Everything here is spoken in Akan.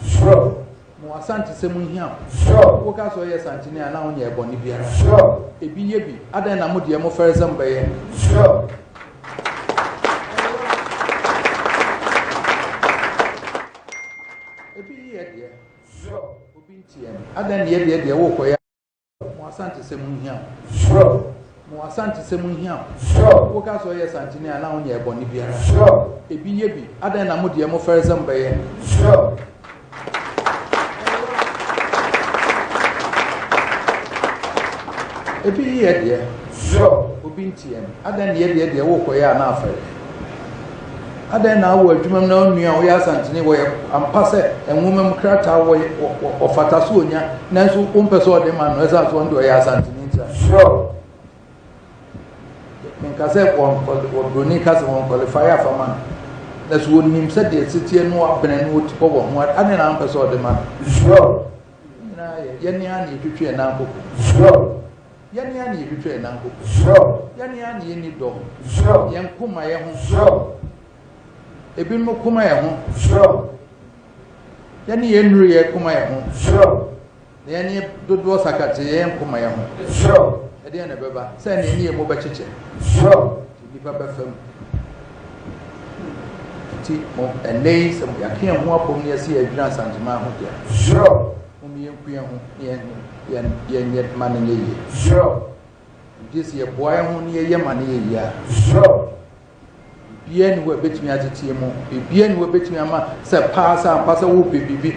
Sure. Ma w'asankyesɛm nhia wo. Sure. Woka sɛ ɔyɛ sankyene a na wonyɛ bɔne biara. Sure. Ebi yɛ bi. Adɛn na mo deɛ mo fɛre sɛ mobɛyɛ? Sure. Ebi yɛ deɛ. Sure. Obi ntiɛ. Adɛn na yɛ deɛ deɛ wokɔyɛ? Mo Asantesɛm ho hia wo. Sure. Mo Asantesɛm ho hia wo. Sure. Wo ka sɛ ɔyɛ Santini a na wo nyɛ ɛbɔne biara. Sure. Ebi yɛ bi. Adɛn na mo deɛ mo fɛre sɛ mo bɛyɛ. Sure. Ebi yɛ deɛ. Sure. Obi ntiɛ no. Adɛn na yɛ deɛ deɛ wo kɔ yɛ a na afɛre. Adɛn na wɔ adwuma mu na wo nua a ɔyɛ Asanteni wɔ yɛ ampa sɛ nwoma mu krataa wɔ yɛ ɔfata sɛ ɔnya nanso wompɛ sɛ ɔde ma no ɛsiane sɛ ɔno deɛ ɔyɛ Asanteni nti a? Sure. Menka sɛ ɔbroni ka sɛ wɔn qualify afa ma no na so wɔnim sɛ deɛ ɛsiteɛ no abene no ɔtipɔ wɔ ho adɛn na wompɛ sɛ ɔde ma no? Sure. Yɛn nyinaa yɛ. Yɛn ara na yɛtwitwa yɛn nan koko. Zrɔb. Yɛn ara na yɛtwitwa yɛn nan koko. Zrɔb. Yɛn ara na yɛnni dɔ. Zrɔb. Yɛn koma yɛ ho. Zrɔb. Ebinom koma yɛ ho. Zrɔb. Yɛne yɛn nnuru yɛ koma yɛ ho. Zrɔb. Na yɛne dodoɔ sakate yɛn koma yɛ ho. Zrɔb. Ɛdeɛn na ɛbɛba sɛ ɛne yɛn mu bɛkyekyɛ. Zrɔb. Nnipa bɛfa mu. Enti mo, ɛnnɛ yi, sɛ yɛaka yɛn ho abom na yɛse yɛredwira Nsanteman ho de a, momma yɛnku yɛn ho na yɛn yɛnyɛ ma no nyɛ yie. Ɛnti sɛ yɛboa yɛn ho na yɛyɛ ma no yɛ yie a, biribiara nni hɔ a ɛbɛtumi ateteɛ mu, biribiara nni hɔ a ɛbɛtumi ama sɛ paa sɛ ampa sɛ wopɛ biribi.